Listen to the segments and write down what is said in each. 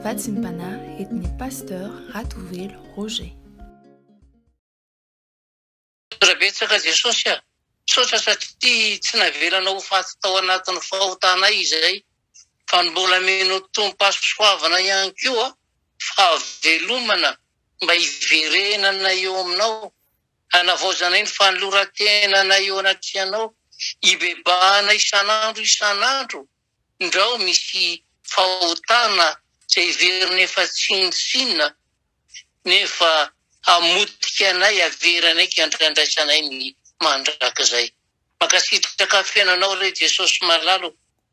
Vatsim-panahy entin'ny Pasteur Ratovelo Roger. Misaotra betsaka Jesosy a! Misaotra satria tsy navelanao ho faty tao anatin'ny fahotanay izay fa mbola mino tomom-pahasoavana ihany koa fahavelomana mba hiverenana eo aminao, hanavaozanay ny fanoloran-tenanay eo anatrehanao, hibebahana isan'andro isan'andro Indrao misy fahotana izay heveriny efa tsinontsinona nefa hamotika anay havery anay ka andraisanay ny mandrakizay. Mankasitraka feno anao re Jesosy malala o.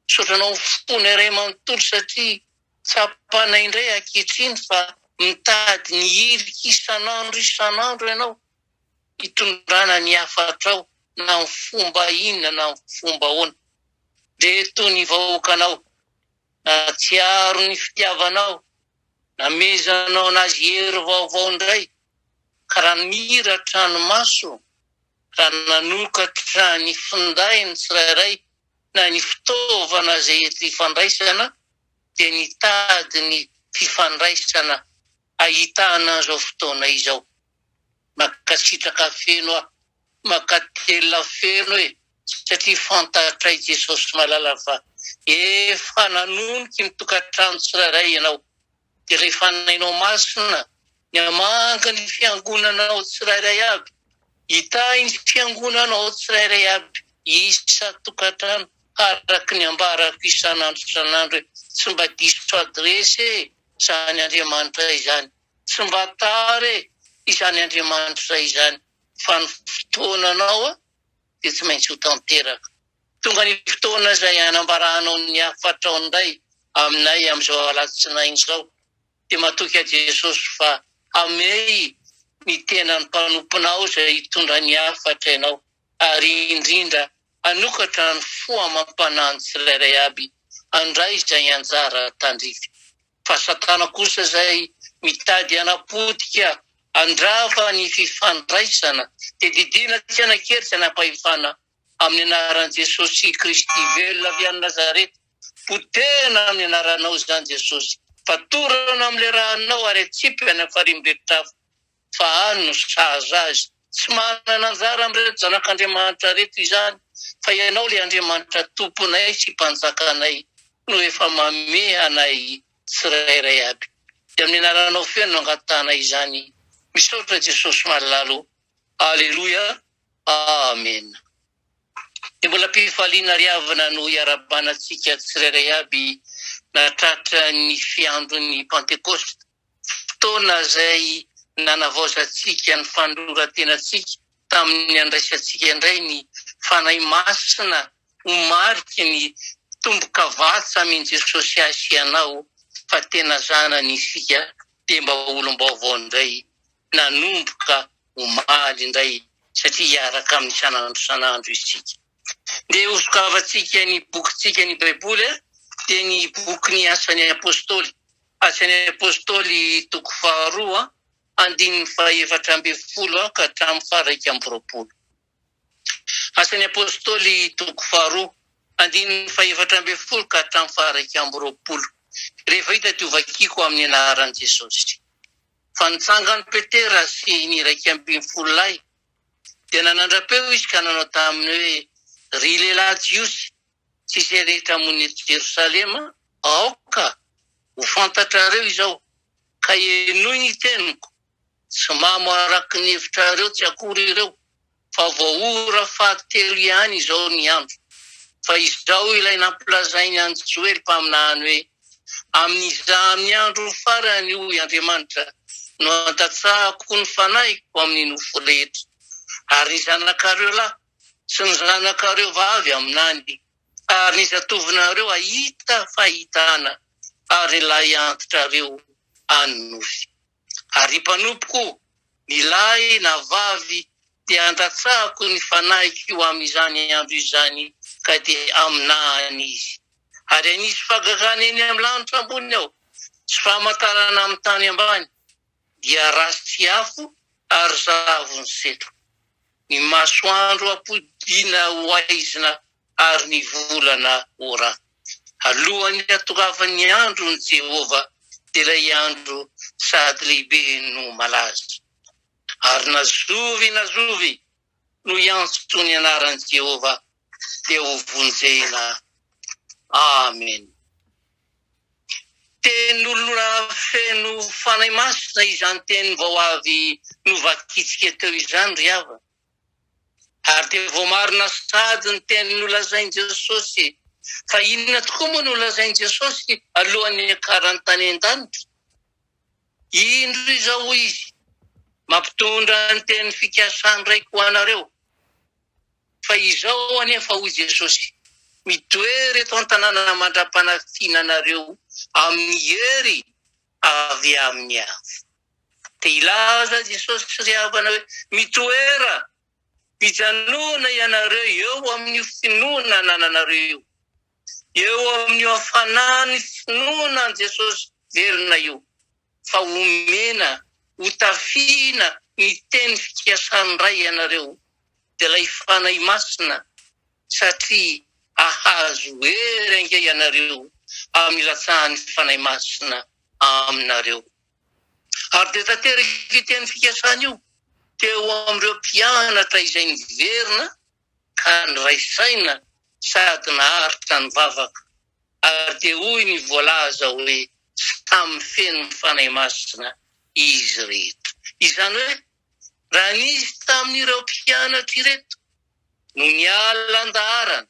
Misaotra anao fony iray manontolo satria tsapanay indray ankehitriny fa mitady ny hirika isan'andro isan'andro ianao. hitondrana ny hafatrao na amin'ny fomba inona na amin'ny fomba ahoana. Dia toy ny vahoakanao nahatsiaro ny fitiavanao, namezanao anazy hery vaovao indray, ka raha nira an-tranomaso, raha nanokatra ny finday ny tsirairay na ny fitaovana izay ety ifandraisana, dia nitady ny fifandraisana ahitana an'izao fotoana izao. Mankasitraka feno aho. Mankatelina feno e satria fantatray i Jesosy malala fa efa nanoniky ny tokantrano tsirairay ianao dia rehefa nainao masina ny hamangy ny fiangonanao tsirairay aby hitahy ny fiangonanao tsirairay aby isa tokantrano araka ny ambarako isan'andro isan'andro hoe tsy mba diso adresse e zany Andriamanitra izany Tsy mba tara e izany Andriamanitra izany fa ny fotoananao dia tsy maintsy ho tanteraka. Tonga ny fotoana izay hanambarahanao ny hafatrao indray aminay amin'izao alatsinainy izao dia matoky aho Jesosy fa hamehy ny tenan'ny mpanomponao izay hitondra ny hafatra ianao. ary indrindra hanokatra ny fo amam-panahin'ny tsirairay aby handray izay anjara tandrify, fa Satana kosa izay mitady hanapotika handrava ny fifandraisana, dia didiana tsy hanan-kery tsy hanan-pahefana amin'ny anaran'i Jesosy Kristy velona avy any Nazareta, potehina amin'ny anaranao izany Jesosy, fatorana amin'ny lerahanao ary atsipy any amin'ny farimberitr'afo. fa Ahy no sahaza azy. Tsy manana anjara amin'ireto zanak'Andriamanitra ireto izany, fa Ianao ilay Andriamanitra Tomponay sy Mpanjakanay no efa mamehy anay tsirairay aby. Dia amin'ny Anaranao feno no angatahana izany. Misaotra Jesosy malala o. Aleloia. Amena. Dia mbola am-pifaliana ry havana no hiarahabana antsika tsirairay aby natratra ny fiandron'ny Pantekosta. fotoana izay nanavaozantsika ny fanoloran-tenantsika tamin'ny handraisantsika indray ny Fanahy Masina ho mariky ny tombokavatsa amin'i Jesosy ahy sy ianao fa tena zanany isika dia mba olom-baovao indray nanomboka omaly indray satria hiaraka aminy isan'andro isan'andro isika. Ndeha hosokavantsika ny bokintsika ny Baiboly dia ny bokin'ny Asan'ny Apostoly. Asa ny Apôstôly toko faharoa andininy fahefatra ambin'ny folo ka hatramin'ny faha-iraika amby roapolo. Asa ny Apôstôly toko faharoa andininy fahefatra ambin'ny folo ka hatramin'ny faha-iraika amby roapolo. Rehefa hita dia hovakiko amin'ny anaran'i Jesosy. Fa nitsangan'i Petera sy ny iraika ambin'ny folo lahy, dia nanandra-peo izy ka nanao taminy hoe, Ry lehilahy Jiosy, sy izay rehetra mony eto Jerosalema, aoka ho fantatrareo izao, ka henoy ny teniko, tsy mamo araka ny hevitrareo tsy akory ireo, fa vao ora fahatelo ihany izao ny andro, fa izao ilay nampilazainy an'i Joely mpaminany hoe, Amin'iza amin'ny andro farany, hoy Andriamanitra, no handatsahako ny fanahiko amin'ny nofo rehetra, ary ny zanakareo lahy, sy ny zanakareo vavy aminany, ary ny zatovonareo hahita fahitana, ary ny lahy antitrareo any nofy. Ary ry mpanompoko, ny lahy na vavy, dia handatsahako ny fanahiko eo amin'izany andro izany, ka dia haminany izy. Ary hanisy fagagana eny amin'ny lanitra ambony aho, sy famantarana amin'ny tany ambany. dia ratsy afo ary zavon'ny setroka. Ny masoandro ampodiana ho haizina ary ny volana ora. Alohan'ny hatongavan'ny andron'i Jehovah dia ilay andro sady lehibe no malaza. Ary na zovy na zovy no hiantso ny anaran'i Jehovah dia hovonjena. Amen. Tenin'olona feno Fanahy Masina izany teny vao avy novakintsika teo izany ry havana. Ary dia voamarina sady ny teny nolazain'i Jesosy. Fa inona tokoa moa nolazain'i Jesosy alohan'ny niakarany tany an-danitra? Indro izao, hoy izy, mampitondra ny teny fikasan-dRaiko ho anareo. Fa izao anefa, hoy Jesosy, mitoery eto an-tanàna mandra-panafiana anareo amin'ny hery avy amin'ny Avo. Te hilaza Jesosy sy ry havana hoe, Mitoera, mijanona ianareo eo amin'io finoana anananareo io. eo amin'io hafanan'ny finoana an'i Jesosy velona io, fa omena hotafihina ny teny fikasan'ny Ray ianareo, dia ilay Fanahy Masina, satria hahazo hery ange ianareo amin'ny ilatsahan'ny Fanahy Masina aminareo. Ary dia tanteraka io teny fikasana io teo amin'ireo mpianatra izay niverina, ka niray saina sady naharitra ny vavaka, ary dia hoy ny voalaza hoe samy feno ny Fanahy Masina izy rehetra. Izany hoe raha nisy tamin'ireo mpianatra ireto no niala an-daharana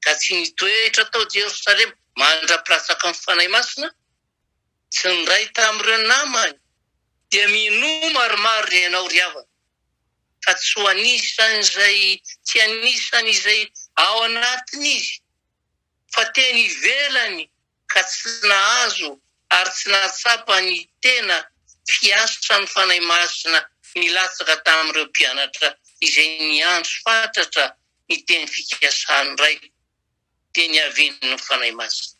ka tsy nitoetra tao Jerosalema mandra-pilatsaka ny Fanahy Masina, tsy niray tamin'ireo namany, dia minoa maromaro ry ianao ry havana. fa tsy ho anisan'izay tsy anisan'izay ao anatiny izy, fa teny ivelany ka tsy nahazo ary tsy nahatsapa ny tena fiasan'ny Fanahy Masina nilatsaka tamin'ireo mpianatra izay niantso fatratra ny teny fikasany iray, dia niavian'ny Fanahy Masina.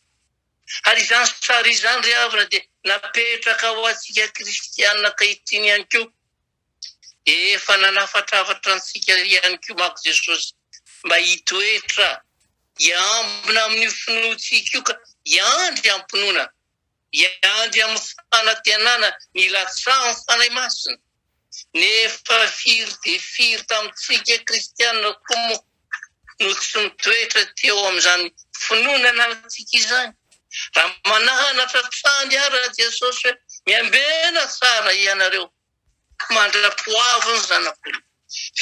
Ary izany sary izany ry havana dia napetraka ho antsika kristiana ankehitriny ihany koa. Dia efa nanafatrafatra antsika ihany koa manko Jesosy mba hitoetra hiambina amin'io finoantsika io ka hiandry am-pinoana, hiandry amin'ny fanantenana ny latsahan'ny Fanahy Masina. Nefa firy dia firy tamintsika kristianina koa moa no tsy mitoetra teo amin'izany finoana ananantsika izany? Raha mananatra hatrany ara Jesosy hoe miambena tsara ianareo, Mandra-poavy ny zanako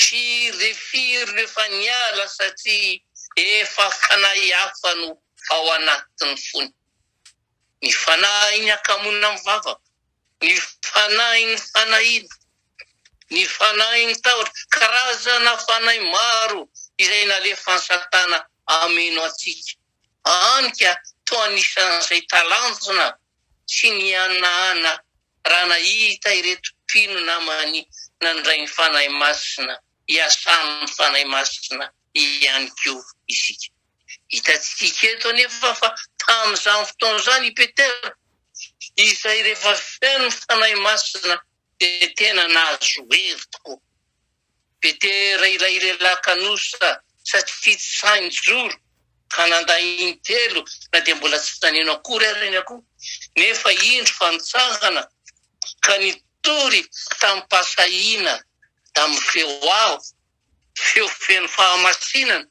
sy refiry no efa niala satria efa fanahy hafa no ao anatin'ny fony. Ny fanahin'ny hakamoana mivavaka, ny fanahin'ny fanahiana, ny fanahin'ny tahotra, karazana fanahy maro izay nalefan'i Satana hameno antsika Any ka, toa anisan'izay talanjona tsy nihanahana raha nahita ireto mpino namany nandray ny Fanahy Masina, iasan'ny Fanahy Masina ihany koa isika. Hitantsika eto anefa fa tamin'izany fotoana izany i Petera, izay rehefa feno ny Fanahy Masina dia tena nahazo hery tokoa. Petera ilay lehilahy kanosa satria tsy sahy nijoro ka nandà intelo na dia mbola tsy naneno akory ary ny akoho, nefa indro fa nitsangana ka nitory tamim-pahasahiana tamin'ny feo avo, feo feno fahamasinana,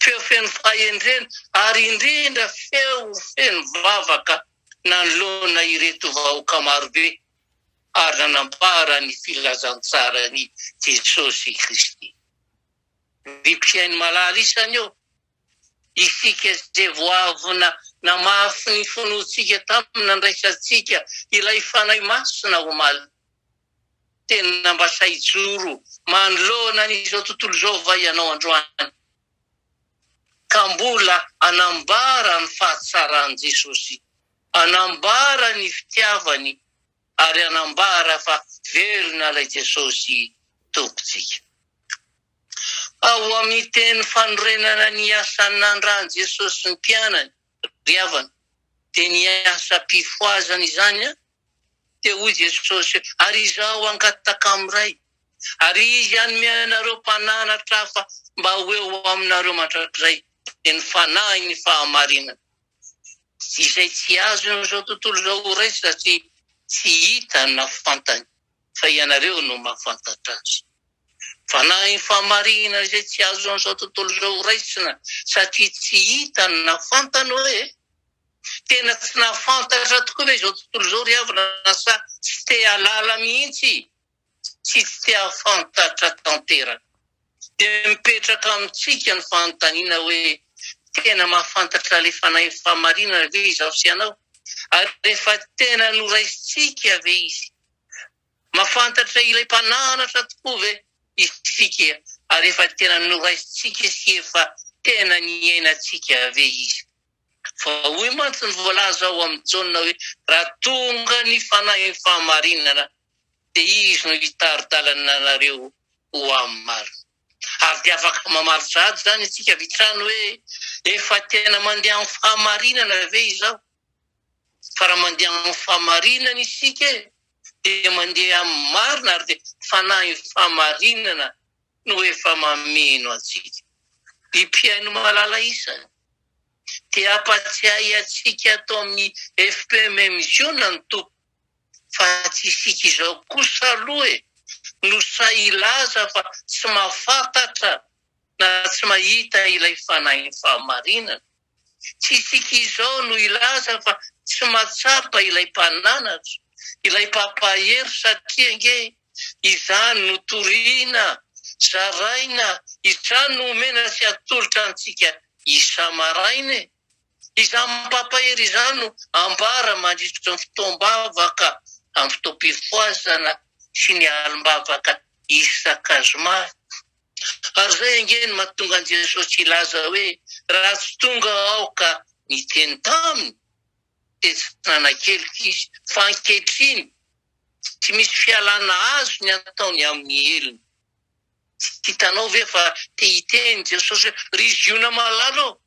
feo feno fahendrena ary indrindra feo feno vavaka nanoloana ireto vahoaka marobe. ary nanambara ny filazantsaran'i Jesosy Kristy. Ny mpihaino malala isany ô! Isika izay vao avy namafy ny finoantsika tamin'ny nandraisantsika ilay Fanahy Masina omaly, tena mba sahy hijoro manoloana an'izao tontolo izao va ianao androany? ka mbola hanambara ny fahatsaran'i Jesosy, hanambara ny fitiavany ary hanambara fa velona ilay Jesosy Tompontsika. Ao amin'ny teny fanorenana ny asan'ny nandran'i Jesosy ny mpianany tadiavina. Dia ny asa-pifohazana izany, dia hoy Jesosy, Ary Izaho hangataka amin'ny Ray, ary Izy hanome anareo mpananatra hafa mba ho eo aminareo mandrakizay, dia ny Fanahy ny fahamarinana, izay tsy azon'izao tontolo izao ho raisina satria tsy hitany na fantany. fa ianareo no mahafantatra azy. Fanahy fahamarinana izay tsy azon'izao tontolo izao horaisina satria tsy hita na fantany hoe. Tena tsy nahafantatra tokoa ve izao tontolo izao ry havana sa tsy te-hahalala mihitsy sy tsy te-hahafantatra tanteraka? Dia mipetraka amintsika ny fanontaniana hoe, tena mahafantatra ilay Fanahy Fahamarinana ve izaho sy ianao? Ary efa tena noraisintsika ve Izy? Mahafantatra ilay Mpananatra tokoa ve isika? Ary efa tena noraisintsika sy efa tena niainantsika ve Izy? Fa hoy mantsy ny voalaza ao amin'ny Jaona hoe, raha tonga ny Fanahy Fahamarinana dia Izy no hitari-dalana anareo ho amin'ny marina. Ary dia afaka mamaly sahady izany isika avy hatrany hoe, Efa tena mandeha amin'ny fahamarinana ve izaho? Fa raha mandeha amin'ny fahamarinana isika, dia mandeha amin'ny marina ary dia fanahin'ny fahamarinana no efa mameno antsika. I Mpihaino Malala Isany dia hampatsiahy antsika ato amin'ny FPM Mission ny Tompo. fa tsy isika izao kosa aloha e, no sahy hilaza fa tsy mahafantatra na tsy mahita ilay Fanahin'ny Fahamarinana. Tsy isika izao no hilaza fa tsy mahatsapa ilay Mpananatra, ilay Mpampahery satria ange izany no toriana, zaraina, izany no omena sy atolotra antsika isa-maraina e. Izany mampahery izany no ambara mandritry ny fotoam-bavaka amin'ny fotoam-pifohazana sy ny alim-bavaka isaka zoma. Ary izay ange no mahatonga an'i Jesosy hilaza hoe, Raha tsy tonga Aho ka niteny taminy, dia tsy nanakeliko izy. Fa ankehitriny, tsy misy fialana azo ny ataony amin'ny helony. Tsy hitanao ve fa te hiteny Jesosy hoe, Ry Ziona malala ô,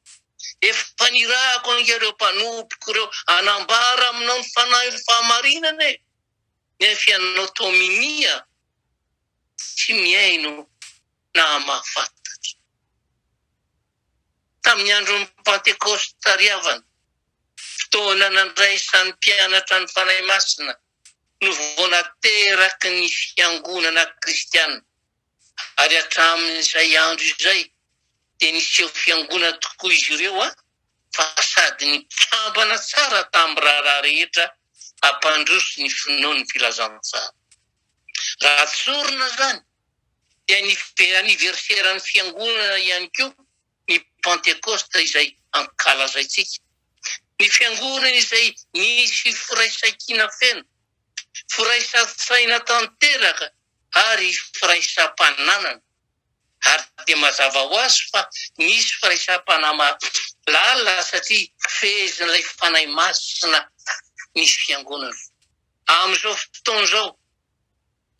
efa nirahako an'ireo mpanompoko ireo hanambara aminao ny fanahin'ny fahamarinana e! Nefa ianao toa minia, tsy mihaino na mahafantatra. Tamin'ny andron'ny Pantekôsta ry havana, fotoana nandraisan'ny mpianatra ny Fanahy Masina no vao nateraky ny fiangonana kristiana, ary hatramin'izay andro izay dia niseho fiangonana tokoa izy ireo fa sady nikambana tsara tamin'ny raharaha rehetra hampandroso ny finoan'ny Filazantsara. Raha tsorina izany dia ny aniverseran'ny fiangonana ihany koa ny Pentekosta izay ankalazaintsika. Ny Fiangonana izay nisy firaisan-kina feno, firaisan-tsaina tanteraka ary firaisam-pananana. Ary dia mazava ho azy fa nisy firaisam-panahy mahalala satria fehezin'ilay Fanahy Masina ny Fiangonana. Amin'izao fotoana izao,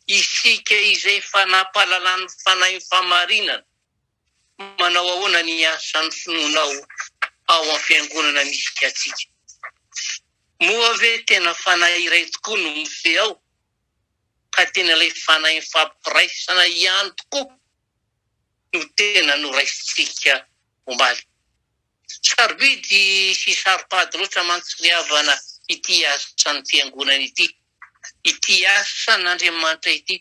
isika izay efa nampahalalan'ny Fanahy ny fahamarinana, manao ahoana ny asan'ny finoanao ao amin'ny fiangonana misy antsika? Moa ve tena fanahy iray tokoa no mifehy ao, ka tena ilay fanahy nifampiraisana ihany tokoa no tena noraisintsika omaly? Sarobidy sy saropady loatra mantsy ny havana ity asan'ny fiangonana ity, ity asan'Andriamanitra ity,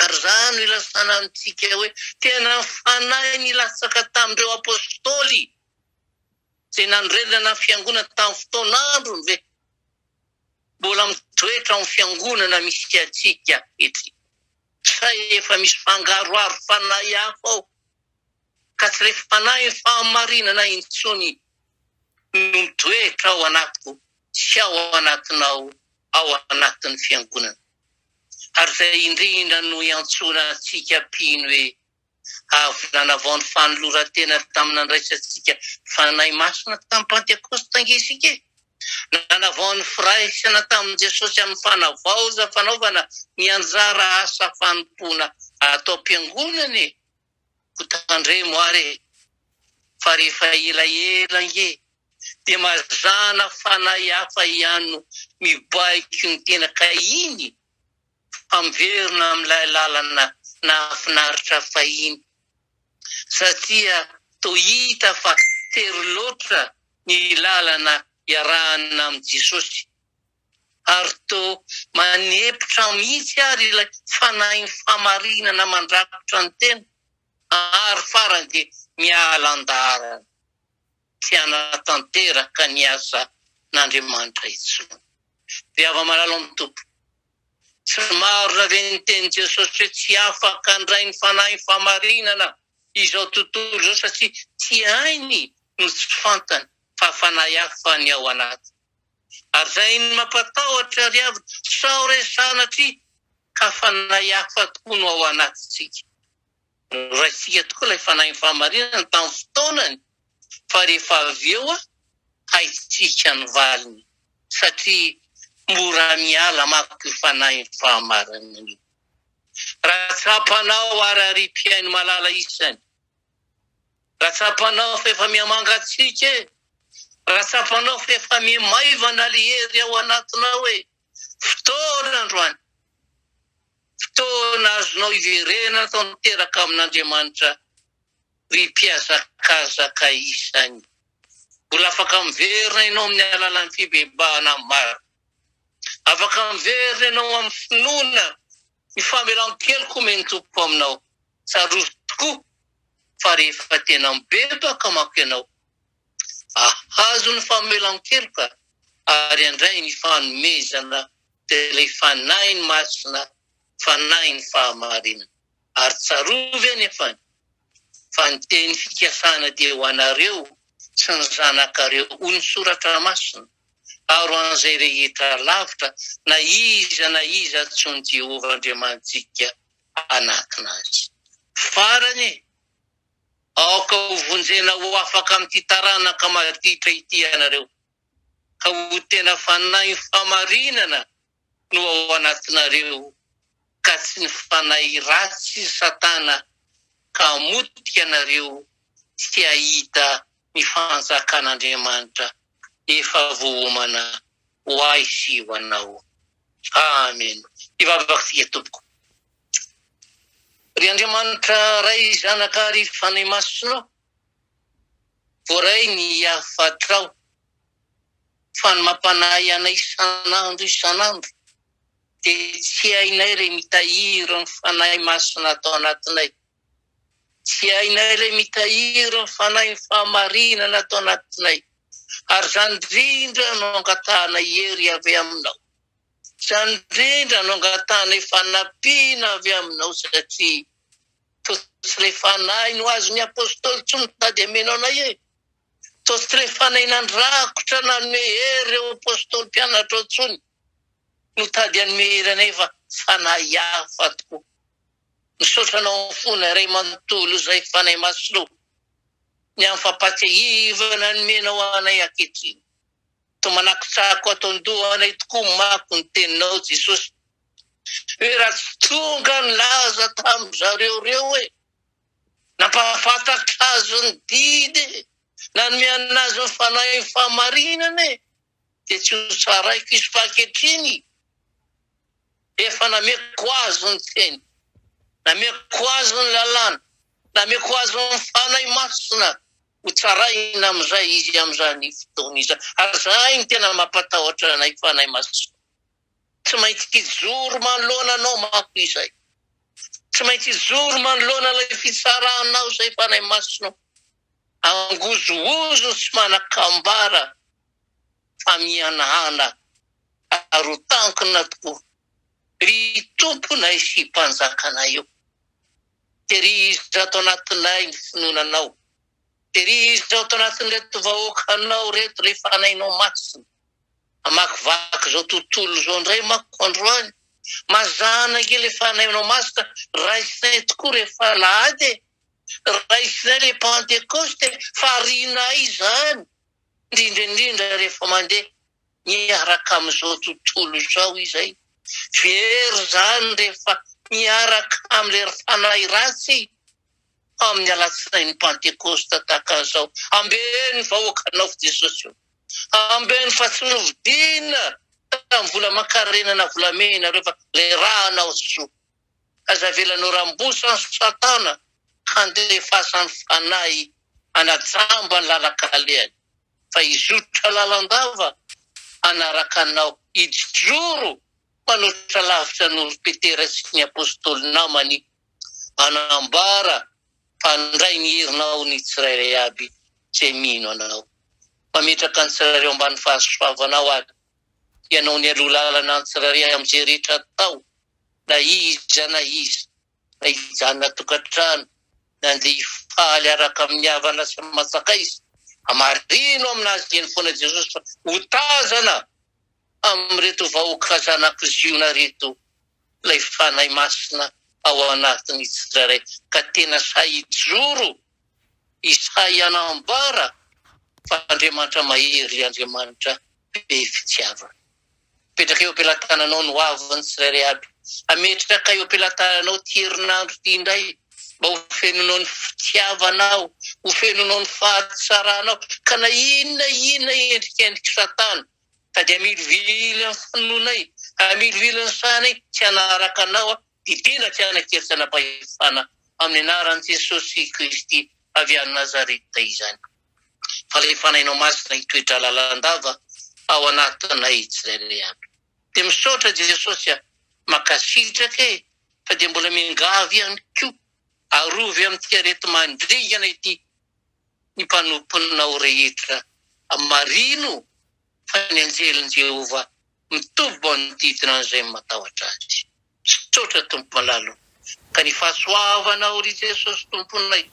Ary izany no ilazana amintsika hoe tena ny Fanahy nilatsaka tamin'ireo Apôstôly izay nanorenana ny Fiangonana tamin'ny fotoan'androny ve? Mbola mitoetra ao amin'ny Fiangonana misy antsika ankehitriny? Sa efa misy fangaroharo Fanahy hafa ao ka tsy ilay Fanahin'ny fahamarinana intsony no mitoetra ao anatiko sy ao anatinao ao anatin'ny Fiangonana? ary izay indrindra no iantsoana antsika mpino hoe avy nanavao ny fanoloran-tena tamin'ny nandraisantsika Fanahy Masina tamin'ny Pantekôsta ange isika e! Nanavao ny firaisana tamin'i Jesosy amin'ny fanavaozam-panaovana ny anjara asa fanompoana atao am-piangonana e! ko tandremo ary e! fa rehefa ela ela ange dia mazàna fanahy hafa ihany no mibaiko ny tena ka iny fa miverina amin'ilay lalana nahafinaritra fahiny satria toa hita fa tery loatra ny lalana iarahana amin'i Jesosy. Ary toa manepotra mihitsy ary ilay fanahin'ny fahamarinana mandrakotra ny tena, ary farany dia miala an-daharana, tsy hanatanteraka ny asan'Andriamanitra intsony. Ry hava-malala amin'ny Tompo, tsy marina ve ny tenin'i Jesosy hoe tsy afaka handray ny fanahin'ny fahamarinana izao tontolo izao satria tsy hainy no tsy fantany fa fanahy hafa ny ao anatiny? Ary zay ny mampatahotra ry havy sao re sanatria ka fanahy hafa tokoa no ao anatintsika. Noraisintsika tokoa ilay fanahin'ny fahamarinana tamin'ny fotoanany fa rehefa avy eo haintsika ny valiny satria mora miala manko io fanahin'ny fahamarinana io. Raha tsapanao ary ry mpihaino malala isany. Raha tsapanao fa efa miha-mangatsiaka e! Raha tsapanao fa efa miha-maivana ilay hery ao anatinao e! Fotoana androany. Fotoana azonao iverenana tanteraka amin'Andriamanitra, ry mpihazakazaka isany. Mbola afaka miverina ianao amin'ny alalan'ny fibebahana maro. Afaka miverina ianao amin'ny finoana. Ny famelan-keloka omen'ny Tompoko aminao. Tsarovy tokoa fa rehefa tena mibebaka manko ianao, hahazo ny famelan-keloka ary handray ny fanomezana dia ilay Fanahiny Masina, Fanahiny Fahamarinana. Ary tsarovy anefa fa ny teny fikasana dia ho anareo sy ny zanakareo, hoy ny Soratra Masina. Maro an'izay rehetra lavitra na iza na iza antsoin'i Jehovah Andriamanitsika hanatona azy. Farany, aoka hovonjena ho afaka amin'ity taranaka maditra ity ianareo, ka ho tena fanahy famarinana no ao anatinareo ka tsy ny fanahy ratsy i Satana ka hamotika anareo tsy hahita ny fanjakan'Andriamanitra efa voaomana ho ahy sy ho anao. Amen. Hivavaka isika tompoko. Ry Andriamanitra Ray, Zanaka ary Fanahy Masina, Voaray ny hafatrao, fa ny mampanahy anay isan'andro isan'andro dia tsy hainay re mitahiry ny Fanahy Masina ato anatinay. Tsy hainay re mitahiry ny Fanahin'ny fahamarinana ato anatinay. Ary izany indrindra no angatahanay hery avy Aminao. Izany indrindra no angatahanay fanampiana avy Aminao satria Toa tsy ilay fanahy no azon'ny Apostoly tsy mitady hameno anay e! Toa tsy ilay fanahy nandrakotra nanome hery ireo Apostoly mpianatrao intsony no tady hanome hery anay fa fanahy hafa tokoa. Misaotra anao fona Ray manontolo izay Fanahy Masina ô, ny amin'ny fampahatsiahivana nomenao anay ankehitriny. Toa manakitsako ato an-dohanay tokoa manko ny teninao Jesosy hoe raha tsy tonga nilaza tamin-dry zareo ireo hoe nampahafantatra azy ny didy e, nanome an'azy ny fanahin'ny fahamarinana e, dia tsy ho tsaraiko izy fa ankehitriny efa nameko azy ny teny, nameko azy ny lalàna, nameko azy ny fanahy masina ho tsaraina amin'izay izy amin'izany fotoana izany. Ary izay no tena mampatahotra anay Fanahy Masina. Tsy maintsy hijoro manoloana Anao manko izay. Tsy maintsy hijoro manoloana ilay fitsaranao izay Fanahy Masina o. Angozohozo sy manakambara fa mihanahana ary ho tankina tokoa ry Tomponay sy Mpanjakanay o. Terihizo ato anatinay ny finoana Anao. Terihizo ato anatin'ireto vahoaka Anao ireto ilay fanahinao masina. Amakivaky izao tontolo izao indray manko androany. Mazàna ange ilay fanahinao masina, raisinay tokoa rehefa alahady e. Raisinay ilay Pantekosta e, fa arianay izany, indrindra indrindra rehefa mandeha miaraka amin'izao tontolo izao izay very izany rehefa miaraka amin'ilay fanahy ratsy amin'ny alatsinain'ny Pantekosta tahaka an'izao. Ambeno vahoakanao fo Jesosy o. Ambeno fa tsy novidiana tamin'ny vola aman-karena na volamena ireo fa ilay ranao Jesoa. Aza avelanao rambosan'i Satana handefasany fanahy hanajamba ny lalan-kalehany. fa hizotra lalandava hanaraka anao, hijoro manoatra lavitra noho ry Petera sy ny Apôstôly namany, hanambara fa handray ny herinao ny tsirairay aby izay mino anao. Mametraka ny tsirairay ao ambany fahasoavanao ary ianao nialoha lalana ny tsirairay amin'izay rehetra atao na iza na iza. ka hijanona tokantrano nandeha hifaly araka amin'ny havana sy aman-tsakaiza. Hamarino amin'azy ireny foana Jesosy fa ho tazana amin'ireto vahoaka zanako Ziona ireto ilay Fanahy Masina ao anatin'ny tsirairay ka tena sahy hijoro i sahy hanambara fa Andriamanitra mahery Andriamanitra be fitiavana. Apetraka eo am-pelatananao ny hoavin'ny tsirairay aby. Ametraka eo am-pelatananao ity herinandro ity indray mba ho fenonao ny fitiavanao, ho fenonao ny fahatsaranao, ka na inona inona endrikendrik'i Satana sady amilovilo amin'ny finoanay, amilovilo ny sainay tsy hanaraka anao, Dia tena tianak'ery tsanapahefana amin'ny anaran'i Jesosy Kristy avy any Nazareta izany. Fa ilay Fanahinao Masina hitoetra lalandava ao anatinay tsirairay avy. Dia misaotra Jesosy a! Mankasitraka e! Fa dia mbola miangavy ihany koa, arovy amin'ity areti-mandringana ity ny mpanomponao rehetra. Marino fa ny anjelin'i Jehovah mitovy manodidina an'izay matahotra azy. Misaotra Tompo malala o. Ka ny fahasoavanao ry Jesosy Tomponay,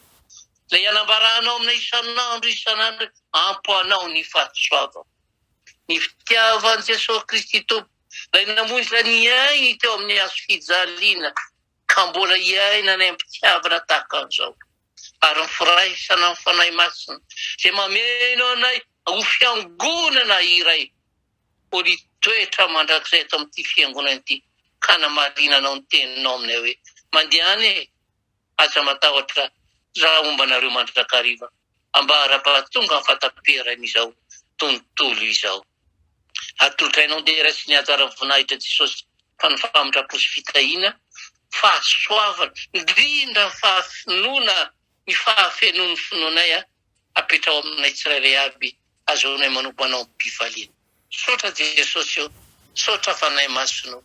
Ilay anambaranao aminay isan'andro isan'andro ampy anao ny fahasoavako. Ny fitiavan'i Jesosy Kristy Tompo, Ilay namonjy ny ainy teo amin'ny hazo fijaliana, ka mbola iainanay am-pitiavana tahaka an'izao. ary ny firaisana amin'ny Fanahy Masina dia mameno anay ho fiangonana iray politoetra mandrakizay eto amin'ity fiangonana ity ka hanamarinanao ny teninao aminay hoe, Mandehana e! Aza matahotra raha homba anareo mandrakariva ambara-pahatongan'ny fahataperan'izao tontolo izao. Atolotrainao dera sy ny hatsaran'ny voninahitry Jesosy fa ny famitram-po sy fitahiana, fahasoavana, indrindra ny fahafinoana, ny fahafenoan'ny finoanay aho, apetraho aminay tsirairay aby, azaonay manompo Anao am-pifaliana. Misaotra Jesosy ô, misaotra Fanahy Masina ô.